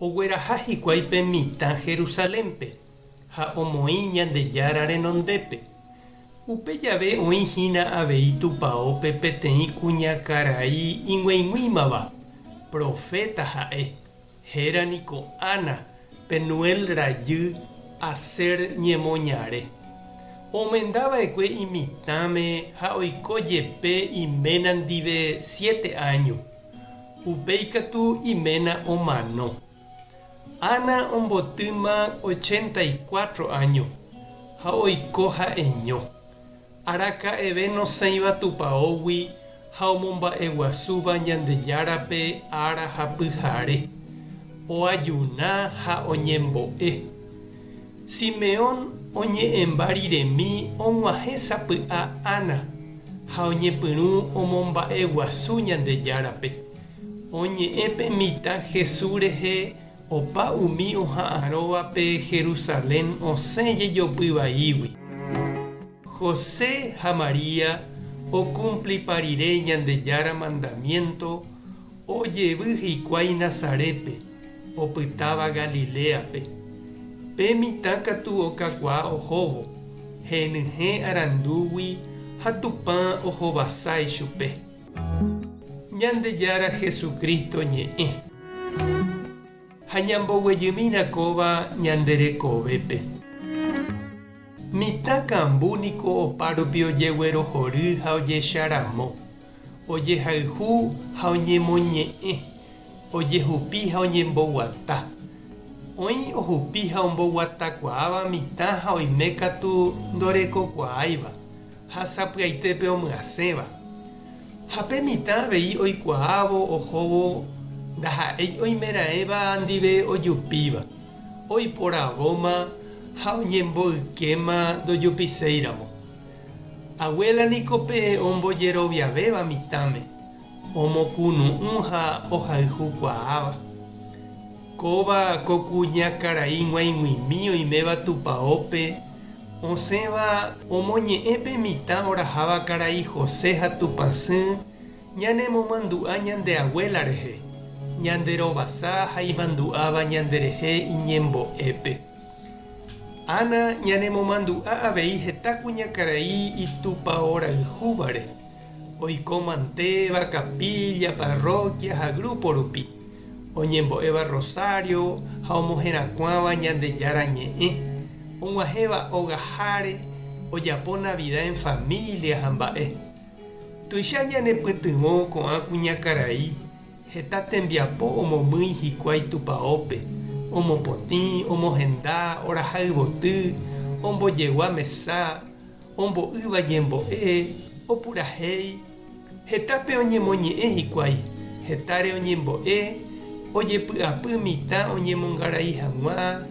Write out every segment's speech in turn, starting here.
Ogueraha hikuái pe mitã Jerusalénpe ha omoĩ Ñandejára renondépe. Upe jave oĩ hína avei tupaópe peteĩ kuñakarai ig̃uaig̃uímava, proféta ha'e, héra niko Ana, Penuel rajy, Aser ñemoñare. Omenda va'ekue imitãme ha oiko jepe iména ndive siete áño. Upéi katu iména omano. Ana ombotýma ochenta y cuatro áño ha oiko ha'eño, araka'eve nosẽiva tupaógui ha omomba'eguasúva Ñandejárape ára ha pyhare, oajuna ha oñembo'e. Simeón oñe'ẽmba riremi og̃uahẽ sapy'a Ana ha oñepyrũ omomba'e guasu Ñandejárape. Oñe'ẽ pe mitã Jesús rehe opa umi oha'ãrõva pe Jerusalén osẽ jejopy vaígui. José ha María okumplipa rire Ñandejára mandamiénto Ojevy hikuái Nazarépe, opytáva Galiléape. Pe mitã katu okakuaa ohóvo, henyhẽ arandúgui ha Tupã ohovasa ichupe. Ñandejára Jesucristo ñe'ẽ. Ha ñamboguejymína kóva ñande rekovépe. Mitã kambu niko opárupi ojeguerohory ha ojecha ramo. ojehayhu ha oñemoñe'ẽ, ojehupi ha oñemboguata. Oĩ ohupi ha omboguatakuaáva mitã ha oime katu ndorekokuaáiva ha sapy'aitépe omyasẽva. Ha pe mitã avei oikuaávo ohóvo ndaha'éi oimeraẽva ndive ojupíva, oiporavóma ha oñemboykéma ndojupiséiramo. Abuela niko pe ombojeroviavéva mitãme, omokunu'ũ ha ohayhu kuaáva. Kóva ko kuña karai g̃uaig̃uimi oiméva tupaópe osẽva omoñe'ẽ pe mitã oraháva karai José ha Tupãsy ñanemomandu'a ñande abuela rehe, ñande rovasa ha imandu'áva ñanderehe iñembo'épe. Ana ñanemomandu'a avei heta kuñakarai itupaorayhúvare, oiko mantéva kapilla, parroquia ha grupo rupi, oñembo'éva rosario ha omoherakuãva Ñandejára Ñe'ẽ, og̃uahẽva ogaháre, ojapo Navidad en familia ha mba'e. Tuicha ñanepytyvõ ko'ã kuñakarai Heta tembiapo omomýi hikuái tupaópe, omopotĩ, omohenda, oraha yvoty, ombojegua mesa, ombo'ýva ñembo'e, opurahéi. Hetápe oñemoñe'ẽ hikuái, hetáre oñembo'e, ojepy'apy mitã oñemongarai hag̃ua,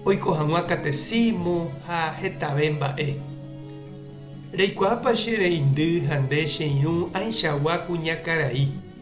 oiko hag̃ua katesímo ha hetave mba'e. Reikuaápa che reindy ha nde che irũ ãichagua kuñakarai?